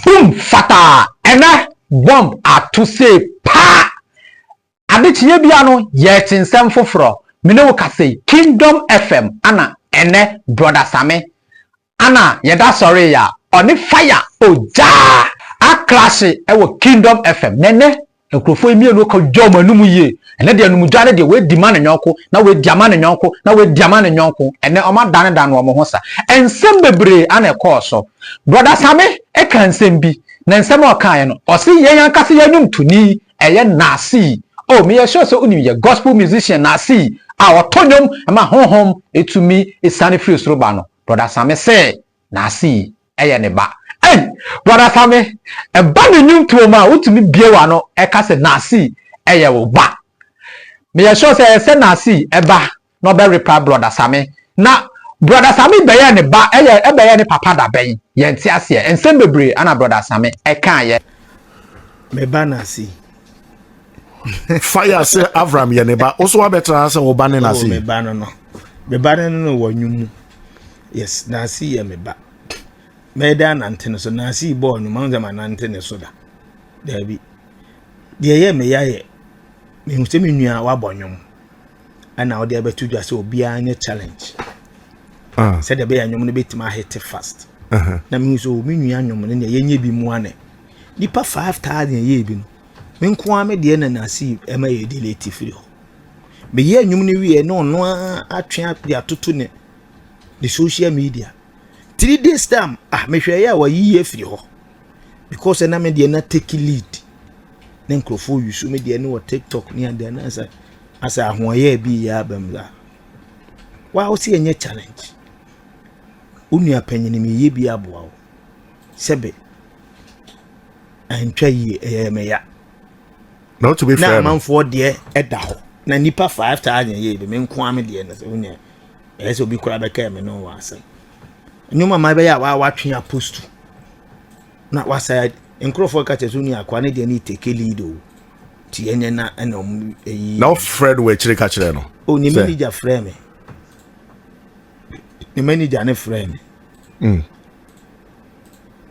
Boom fataa ɛnɛ bomb ato sei paa Ade kyeɛ biaa no yɛkye nsɛm foforɔ Me ne wo ka sei Kingdom FM ana ɛnɛ Brother Same ana yɛda sɔree a Ɔne fire ogyaa a clash wɔ Kingdom FM Nɛnɛ Nkurɔfoɔ yi mmienu kɔ dwa wɔn anum yie. Ɛnɛ deɛ anumdwa no deɛ wɔadi ma ne yɔnko, na wɔadi ama ne yɔnko, na wɔadi ama ne yɔnko. Ɛnɛ wɔadanedane wɔn ho sa. Nsɛm bebree ara na ɛkɔɔ so. Brɔda Same kaa nsɛm bi, na nsɛm a ɔkaeɛ no, ɔse yɛn ankasa yɛn nnwomtoni yɛ Nasii. Oh, meyɛ sure sɛ wonim yɛn gospel musician Nasii a ɔto nnwom ma honhom tumi siane firi soro ba no. Brɔda Same se N'ase yi yɛ ne ba. Ei! Brɔda Same, ɛba ne nnwontoɔ mu a, wotumi bue w'ano ka sɛ N'ase yi yɛ wo ba. Meyɛ sure sɛ ɛyɛ sɛ N'ase yi ba na ɔbɛreply Brɔda Same. Na Brɔda Same bɛyɛɛ ne ba, ɛyɛ bɛyɛɛ ne papa da bɛn? Yɛnte aseɛ. Nsɛm bebree na Brɔda Same kaeɛ. Me ba N'ase yi. fire sɛ avram yɛ ne ba wo so wabɛtena ha sɛ wo ba ne nase oh, meba no no meba no no wɔ nwom mu yes nase yɛ me ba mɛda anante no so nase yi bɔɔ nwom ahosɛ ma nante ne so da daabi deɛ ɛyɛ me ya yɛ mehu sɛ me nua wabɔ nwom ɛna wode abɛto dwa sɛ obiara nyɛ challenge ah. sɛdeɛ ɛbɛyɛ nwom no bɛtumi ahete fast na mehu sɛ oh, me nua nwom no neɛ yɛnyɛ bi mmoa ne nipa 5000 yɛyɛ bi no Me nko ara me deɛ na Nasi ɛma yɛ delete firi hɔ. Meyɛ nnwom no wie na ɔno ara atwe de atoto ne ne social media. Three days time ah mehwɛ yɛ a wayi yɛ firi hɔ because ɛna me deɛ na take lead ne nkurɔfoɔ yi so me deɛ ne wɔ tiktok ne adeɛ na sɛ asɛ ahoɔyɛ bi yɛ abam la wa wo se ɛnyɛ challenge wo nua panyin meyɛ bi aboa wo Sɛbe, antwa yie, ɛyɛɛ me ya. Na wotumi frɛ no. Na amanfoɔ deɛ ɛda hɔ. Na nipa five taa nyɛ yie bi, me nko ara me deɛ na sɛ wonyɛ. Ɛyɛ sɛ obi koraa bɛkaa me ne wɔ asɛm. Nneɛma mmaa bɛyɛ a wɔatwe apostu. Na wasa nkurɔfoɔ ka kyerɛ so ni akoa ne deɛ ne take lead o. Ti yɛnyɛ na ɛna ɔmo ɛyi. Na wofrɛ no wɔ akyire ka kyerɛ no. O ne manager frɛ me. Ne manager ne frɛ me. Mm.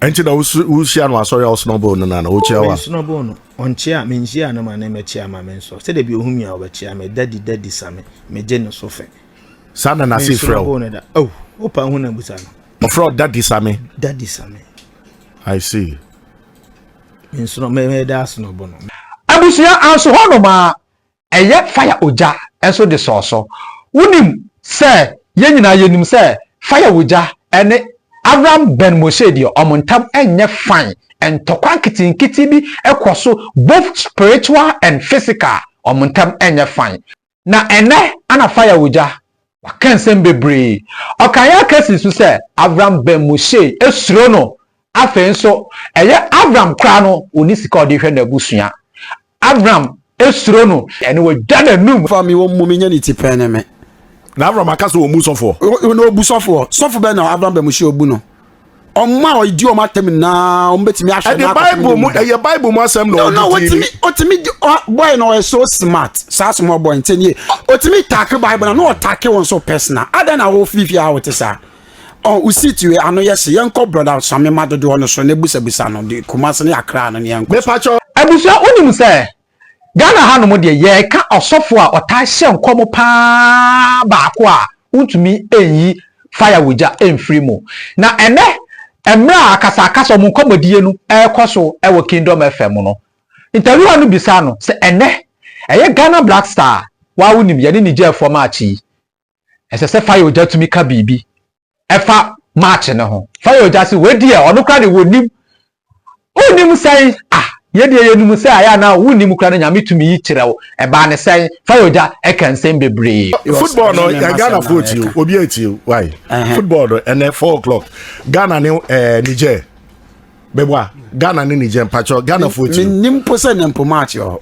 ɛnti na wohyia no asɔre a wosnɔbol no nana wokyia wa mesnɔbol no ɔnkyia menhyia no ma ne mɛkyia ma me nsɔ sɛdeɛ bi ɔhu mi a wɔbɛkyia me dadi dadi sa me megye no so fɛ saa na nase frɛ wo no da oh wopa hu na busa no ɔfrɛ ɔ dadi sa me dadi sa me i see mensnɔ mɛda asnɔbo no abusua anso hɔ nom a ɛyɛ fire ogya nso de sɔɔ so. Wonim sɛ yɛn nyinaa yɛnim sɛ fire ogya ne Avram Ben Moshe deɛ wɔn ntam nyɛ fine, ntɔkwa nketenkete bi kɔ so both spiritual and physical, wɔn ntam nyɛ fine. Na ɛnnɛ na fire ogya Ɔkaa nsɛm bebree. Ɔkaa yɛn akasi nso sɛ Avram bɛn Mosee, suro no. Afei nso, ɛyɛ Avram koraa no, ɔnni sika a ɔde hwɛ n'abusua. Avram suro no, ɛnna wagya n'anom. Fa me wɔ mu menyɛ ne ti pɛɛ ne me. Na Avram aka sɛ ɔmmu sɔfoɔ. Na ɔbu sɔfoɔ. Sɔfo bɛn na Avram bɛn Mosee ɔbu no? wɔn a wɔdi wɔn atɛm nyinaa wɔn bɛtumi ahwɛ ɛde bible mu ɛyɛ bible mu asɛm na ɔde ti mi. ɔtumi bɔyɛ na ɔyɛ so smart saa sɔm ɔbɔ nti nie ɔtumi taake bible na na ɔtaake wɔn so personal adan na wɔfifi a wɔte saa ɔn osi tiwe ano yɛ se yɛn kɔ broda sami ma dodoɔ no so na ebusabisa no de kumasi ne akra no ne yɛn kɔ. mepatwɔ. abusua wonim sɛ Ghana ha nom deɛ yɛreka ɔsɔfo a ɔtaa hyɛ nkɔm paa baako a wontumi nyi fire wood gya mfiri mu. Na ɛnɛ mmerɛ a akasakasa ɔmo nkɔmɔdie no ɛrekɔ so wɔ Kingdom FM no, interviewer no bisaa no sɛ ɛnɛ ɛyɛ Ghana Black Star a, woa wonim yɛne ne gyaa fam akye yi? ɛsɛ sɛ Fayoja tumi ka biribi ɛfa match no ho. Fayoja se wei deɛ ɔno kora de wɔnim. Wonim sɛn? Ah, yɛ deɛ yɛnim sɛ ayɛ anaa wonim kora no Nyame tumi yi kyerɛ wo. Ɛbaa ne sɛn? Fayoja ɛka nsɛm bebree. Football no yɛ Ghana foɔ tie o, obi ɛtie o, why? Football no ɛnɛ four o'clock Ghana ne eh, Niger. Bɛboa Ghana ne Niger mpakyɛ Ghana foɔ tie o. Menim po sɛ ne mpo match wɔ hɔ.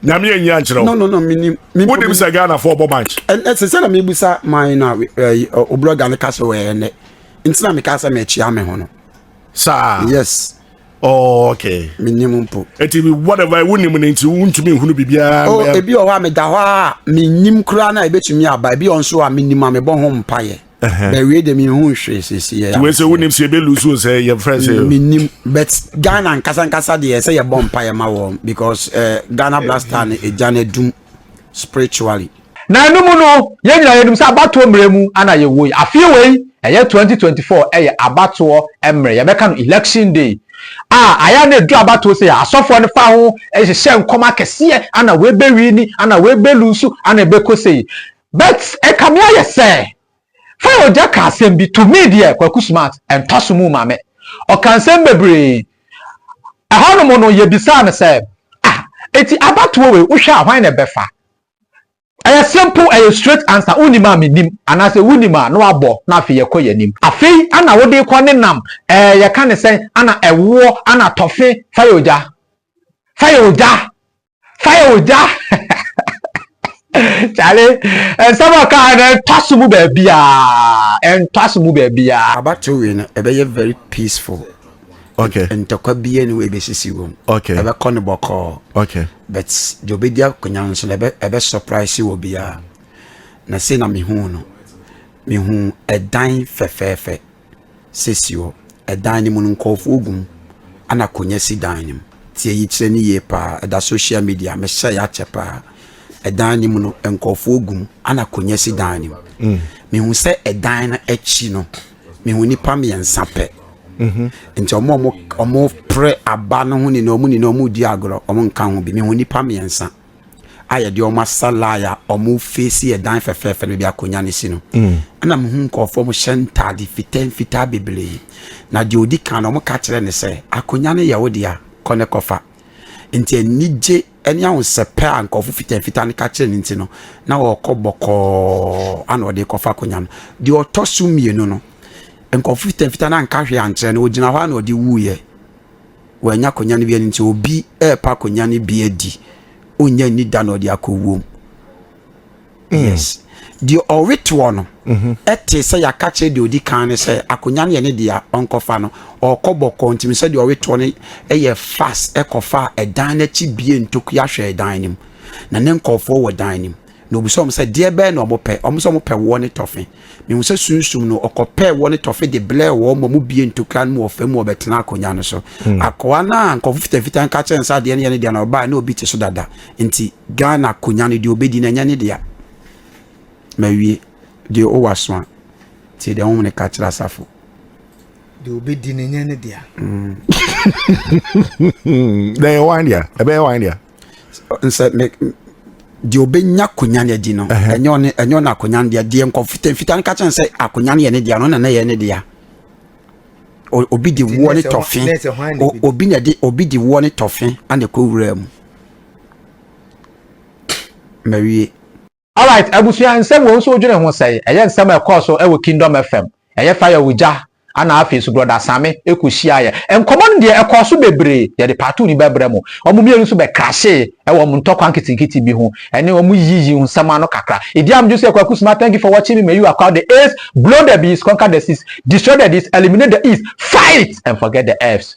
nyame anyi ankyerɛ no no no menim wonim sɛ ghanafoɔ bɔ match ɛsɛ sɛ na mebisa man no a obrɔga no ka sɛ wɔyɛ nnɛ nti na meka sɛ mekyea me ho no saa yes Oh, okay. Menim mpo. Eti bi whatever wonim no nti wontumi nhunu biribiara. Oh, ebi wɔ hɔ a meda hɔ a menim koraa na ebetumi aba. Ebi wɔ nso a menim a mebɔ ho mpaeɛ. bɛwie deɛ mehu hwee sɛsɛ wei sɛ wonim sɛ yɛbɛlusu sɛ yɛmfrɛ sɛ menim but ghana nkasa nkasa deɛ sɛ yɛbɔ mpa yɛ ma wɔn because uh, ghana blaster no ɛgya no adum spiritually na ɛno mu no yɛn nyinaa yɛnim sɛ abatoɔ mmerɛ mu ana yɛwɔ yi afei wei ɛyɛ 2024 ɛyɛ abatoɔ mmerɛ yɛbɛka no election day a ayɛ na ɛduru abatoɔ sɛ asɔfoɔ no fa ho ɛhyehyɛ nkɔm akɛseɛ ana wei bɛwi ni ana wei bɛlusu ana ɛbɛkɔ sɛ yi But ɛkame ayɛ sɛ Faye Ogya ka asɛm bi to me deɛ Kwaku Smart ɛntɔ so mu ma me. Ɔka nsɛm bebree. Ɛhɔnom no yɛbisaa no sɛ ah enti abatoɔ wei wohwɛ a hwan na ɛbɛfa? Ɛyɛ simple ɛyɛ straight answer wonim a menim anaasɛ wonim a na wabɔ na afei yɛkɔ yɛn anim. Afei ana wode rekɔ ne nam ɛɛ yɛka ne sɛn ana ɛwoɔ ana tɔfe Faye Ogya Faye Ogya fire ogya kyale nsɛm a ɔkaa no ɛntɔ so mu baabiaa ɛntɔ so mu baabiaa abato wei no ɛbɛyɛ very peaceful okay ntɔkwa bia ne wei bɛsisi wɔ mu okay ɛbɛkɔ no bɔkɔɔ okay but deɛ ɔbɛdi akonya nso no ɛbɛ surprise wɔ biaa na sei na mehu no mehu ɛdan fɛfɛɛfɛ Sɛ si hɔ. Ɛdan no mu no, nkorɔfoɔ gu mu ɛna akonwa si dan no mu. Tie yi kyerɛ no yie paa. Ɛda social media, mehyɛɛ akyɛ paa. Ɛdan no mu no, nkorɔfoɔ gu mu ɛna akonwa si dan no mu. Mehu sɛ ɛdan no akyi no, mehu nnipa mmiɛnsa pɛ. Nti ɔmo ɔmo ɔmo prɛ aba no ho nyinaa ɔmo nyinaa ɔmo redi agorɔ, ɔmo nka ho bi. Mehu nnipa mmiɛnsa. a yɛde wɔn asa line a wɔn feesi yɛ dan fɛfɛɛfɛ no bi akonnwa no si no mm. ɛna mehu nkurɔfoɔ mo hyɛ ntaade fitaa mfitaa bebree na deɛ ɔdi kan no wɔka kyerɛ ne sɛ akonnwa no yɛ wo deɛ a kɔ ne kɔfa nti anigye ne ahosɛpɛ a nkurɔfo fitaa fitaa no ka kyerɛ no nti no na wɔkɔ bɔkɔɔ ana ɔde kɔfa akonnwa no deɛ ɔtɔ so mmienu no nkurɔfo fitaa fitaa no anka hwee ankyerɛ no ɔgyina hɔ a na ɔde wuiɛ wanya akonya no bi adi nti obi ɛrepa akonya no bi adi ɔnya nni da na ɔde akɔwuom hmm. yes deɛ ɔwetoɔ no mhm. ɛte sɛ yɛaka kyerɛ deɛ ɔdi kan no sɛ akonya no yɛ ne deɛ ɔnkɔfa no ɔkɔ bɔkɔ ntimi sɛ deɛ ɔwetoɔ no ɛyɛ fast ɛkɔfa ɛdan no akyi bie ntokua hwɛ ɛdan no mu na ne nkɔɔfoɔ wɔ dan no mu Na obisaa wɔn sɛ, Deɛ bɛn na wɔpɛ? Wɔn sɛ wɔpɛ woɔ ne tɔfe. Mehuu sɛ sunsum no, wɔkɔpɛɛ woɔ ne tɔfe de blɛɛ wɔn ma wɔbuee ntokura no mu wɔ fam ma wɔbɛtenaa akonnwa no so. Hmm. Akoa no a nkurɔfo fitafita nka kyerɛ no sɛ adeɛ no yɛ ne deɛ na ɔbaeɛ na obi te so dada. Nti Ghana akonnwa no deɛ ɔbɛdi no ɛnyɛ ne dea. Mawie. Deɛ ɔwɔ aso a, tie deɛ honhom no ka kyerɛ asafo. Deɛ ɔbɛdi no ɛnyɛ ne dea. Hmm. Na ɛyɛ wan dea? Ɛbɛyɛ wan dea? sɛ me deɛ ɔbɛnya akonya no adi no ɛnyɛ ɔne ɛnyɛ ɔne akonya no deɛ deɛ nkɔmfitamfita no ka kyɛn sɛ akonya no yɛ ne deɛ no na na yɛ ne deɛ obi de woɔ ne tɔfe obi na de obi de woɔ ne tɔfe ana ɛkɔ wura mu mawie Alright abusua nsɛm wɔ nso wodwene ho sɛn? Ɛyɛ nsɛm a ɛkɔɔ so wɔ kingdom FM ɛyɛ fire wɔ gya ana afei nso brɔda same kɔ hyia yɛ nkɔmɔ no deɛ ɛkɔɔ so bebree yɛde part two no bɛbrɛ mo wɔn mmienu nso bɛ crashee wɔ wɔn ntɔkwa nketenkete bi ho ɛne wɔn yiyi yi nsɛm ano kakra edi am dwo sɛ kwaku sima thank you for watching me may you acquire the A's blow the B's conquer the C's destroy the D's eliminate the E's fight and forget the F's.